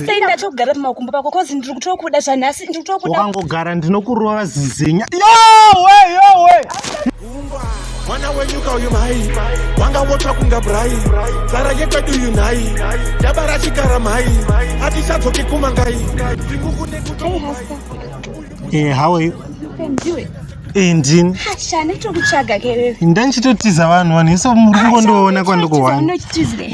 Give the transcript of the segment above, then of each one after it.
sei ndachogara pamakumbo pako kozi ndiri kutokuda zvanhasi ndiri kutokuda wakangogara ndinokurova zizenya yowe yowe mwana wenyuka uyu mhai wanga wotsva kunga brai zara yekwedu uyu nhai dabara chikara mhai hatichadzoki kumangai tingukunekutoai Eh, how are you? Ndiwe. Eh, ndini. Ha, shani tokutsvaga kerewe. Ndanchitotiza vanhu vanhu iso muri kungondoona kwandikuwana.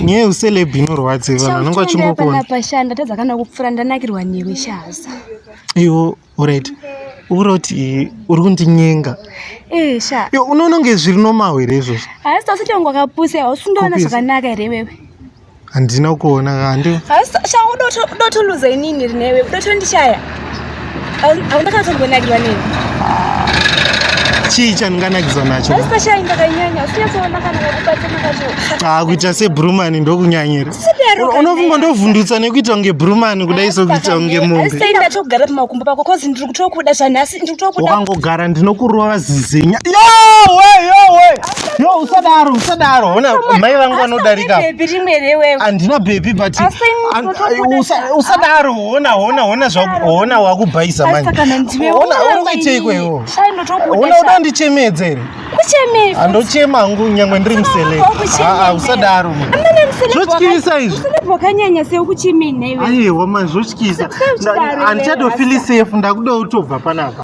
Nye useleb inorwadze vanhu vanonga chingokuona. Chauchonda pashanda tadza kana kupfura ndanakirwa newe shaza. Iwo, alright. uroti uri kundinyenga eh, unoona kunge zviri nomaho here izvozvo haasi tose tongo wakapusa hausi undoona zvakanaka here wewe handina kuona kandi shangu dotoluza inini rinewe dotondishaya hauna kana tombonakirwa nini chii chandinganakidzwa nacho ah, kuita sebrumani ndokunyanyira unofunga ndovhundutsa nekuita kunge brumani kudai sokuita kunge mombeukangogara ndinokurova zizenya No, usadaro, usadaro. Ona mai vangu vanodarika. Baby rimwe rewe. Andina baby but usadaro. Ona, ona, ona zvaku, ona wakubhaisa manje. Ona uri kuita ikweyo. Ona uda ndichemedzere. Kuchemei? Andochema hangu nyangwe ndiri musele. Ah, ah, usadaro. Amene musele. Zvotyisa izvi. Musele bwakanyanya sei ukuchemei newe? Aiwa manje zvotyisa. Andichado feel safe ndakuda utobva panapa.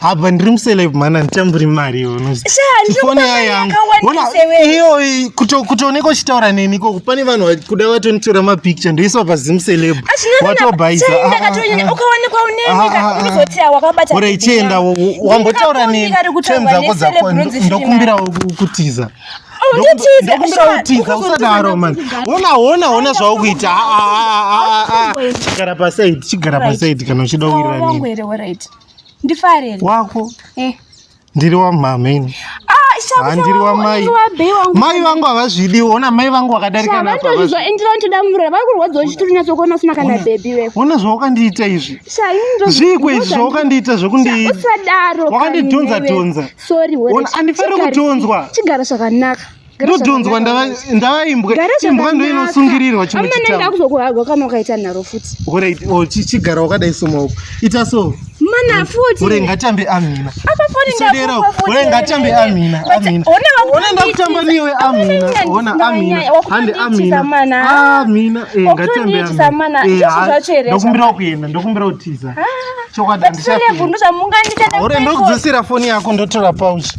apa ndiri muceleb mhani handichamburi mari iyoifoni yayo yangu iyoyi kutooneka uchitaura neni ikoko pane vanhu vakuda vatonitora mapicture ndoiswa pazimuceleb watobaisaorai chienda wambotaura neni tem dzako dzako ndokumbirawo kutiza ndokumbira utiza usadaro mani ona ona ona zvau kuita chigara pasaidi chigara pasaidi kana uchida kuwirira nini ndifareni wako eh. ndiri wamama ini ah, handiri wamai mai vangu havazvidi ona mai vangu vakadarika napaona zvaukandiita izvi zviiko izvi zvaukandiita zvekundivakandidhonza dhonza andifaniri kudhonzwa ndodhonzwa ndava imbwa imbwa ndo inosungirirwa chimwe chitaamana kuzokuhagwa kana ukaita nharo futi orit oh, chigara wakadai somaoko ita so mana futi ore ngatambe amina apafonisadera ore ngatambe amina amina ona ndakutamba niwe amina ona amina hande amina amina eh, ngatambe amina eh, ndokumbira kuenda ndokumbira kutiza ah, chokwadi andishaore ndokudzosera foni yako ndotora pauchi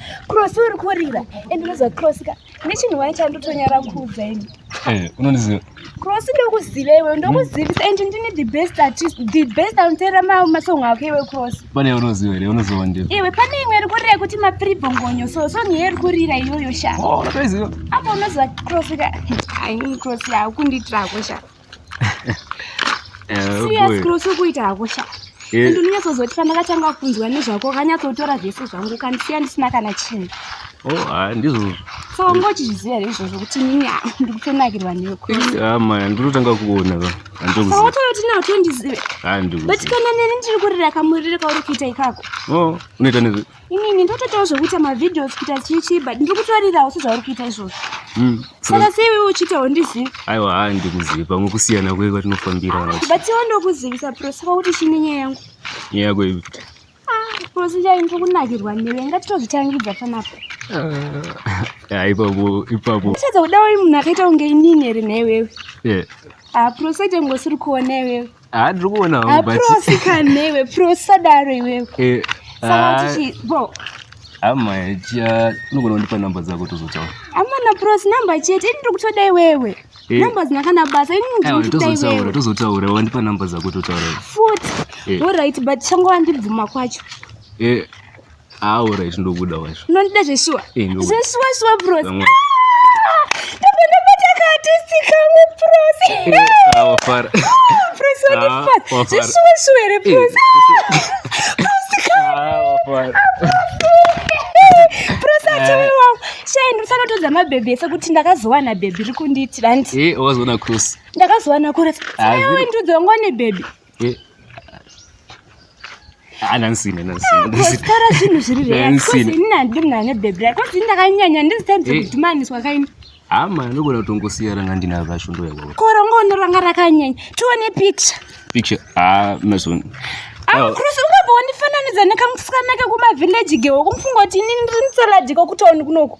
cross uri kurira and unoziva cross ka nechinhu wai chandotonyara kuudza ini eh, unondiziva cross ndokuziva iwe ndokuzivisa and ndine the best artist the best anoteera masong ako iwe cross pane unoziva here unoziva ndi iwe pane imwe iri kurira yekuti mapribongonyo so song iye iri kurira iyoyo sha oh, apo unoziva cross ka cross yakukundiitirako shaa siyasikuita hako sha and unonyatsozoti pandakatanga kunzwa nezvako ukanyatsotora zvese zvangu ukandisiya ndisina kana chinhu oh, ndizvozvo so wanga uchizviziva here izvozvo kuti nini ndikutonakirwa neweama ndinotanga kuona vaotoyoti nawo tondizive but kana neni ndiri kurira kamurire kauri kuita ikako oh, unoita nezve inini ndotoitawo zvekuita mavideos kuita chichi but ndiri kutorirawo sezvauri kuita izvozvo hmm, saka sei iwe uchiitawo ndizivi aiwa haa ndikuzivi pamwe kusiyana kwei kwatinofambira but iwo ndokuzivisa pro saka kuti chini nyaya yangu nyaya yako ivi kuti ah, prosi chai ndiri kunakirwa newe ngatitozvitangidza panapo ah, ipapo ipapo uchadza kudawo munhu akaita kunge inini here nhewewe aprosi ah, aite ngosiri kuona iwewe Ah, ndiri kuona hangu, but- Aprosi kanewe, prosadaro iwewe. Eh, Saka ah, tichi- bro, hama chiya unogona kundipa namba dzako tozotaura amana prosi number chete, ini ndiri kutoda iwewe. Eh. Number dzina kana basa, ini ndiri Aiwa, kutoda tozotaura iwewe. tozotaura wandipa namba dzako totaura Futi, Eh. all right, but changova ndibvuma kwacho. Eh, Ah, alright, ndobuda wacho. Unondida zveshuwa? Eh, ndobuda. Zveshuwa shuwa bros. Vamwe. Ndabva ndabata kaartist kamwe bros. Eh, ah, wafara. Bros Ah, wandifadza. wafara. Zveshuwa shuwa here Eh, bros? ah, wafara. Bros achewe wangu. Shai ndinosanotodza mabhebhi ese kuti ndakazowana bhebhi riri kundiitira nti. Eh, wazoona cross. Ndakazowana kuresa. Ah, Shai zero. wewe ndudzi wangu wane bhebhi. Eh, anansine nansinasikara zvinhu zviri reainini handidi munhu ane bhebhi ra kozi ndakanyanya ndizitaimudzimaaniswa eh. kaini hama anogona kutongosiya ranga ndina vashundo yako korongono ranga rakanyanya tione picture picture ah mason akurusi ungabva wandifananidza nekamusikana kekumavillaji gewo kumufunga kuti inini ndiri mutsalajika kutauni kunoku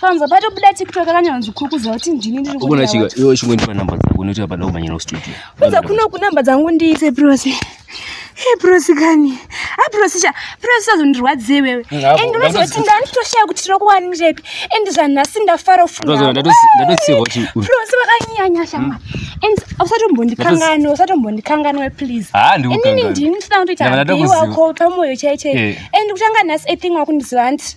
Panza pato buda TikTok akanyanzi kukuza kuti ndini ndiri kuona. Ukona chika, yo chingwe ndipa number dzako noti apa ndau manyana studio. Kuza kuno ku number dzangu ndiite prosi. He prosi kani. Ha prosi cha, prosi sazondirwadze wewe. And unoti kuti ndani toshaya kuti tiri kuwani njepi. And zvana sinda far off. Prosi ndato ndato siva kuti. Prosi vakanyanya shama. Hmm. And usatombondikangana, kangano, usatombondikangana kangano we please. Ah ndi ukangano. Ini ndini ndinoita kuti api wako pamoyo chaichai. Eh. And kutanga nhasi a thing wakundiziva anti.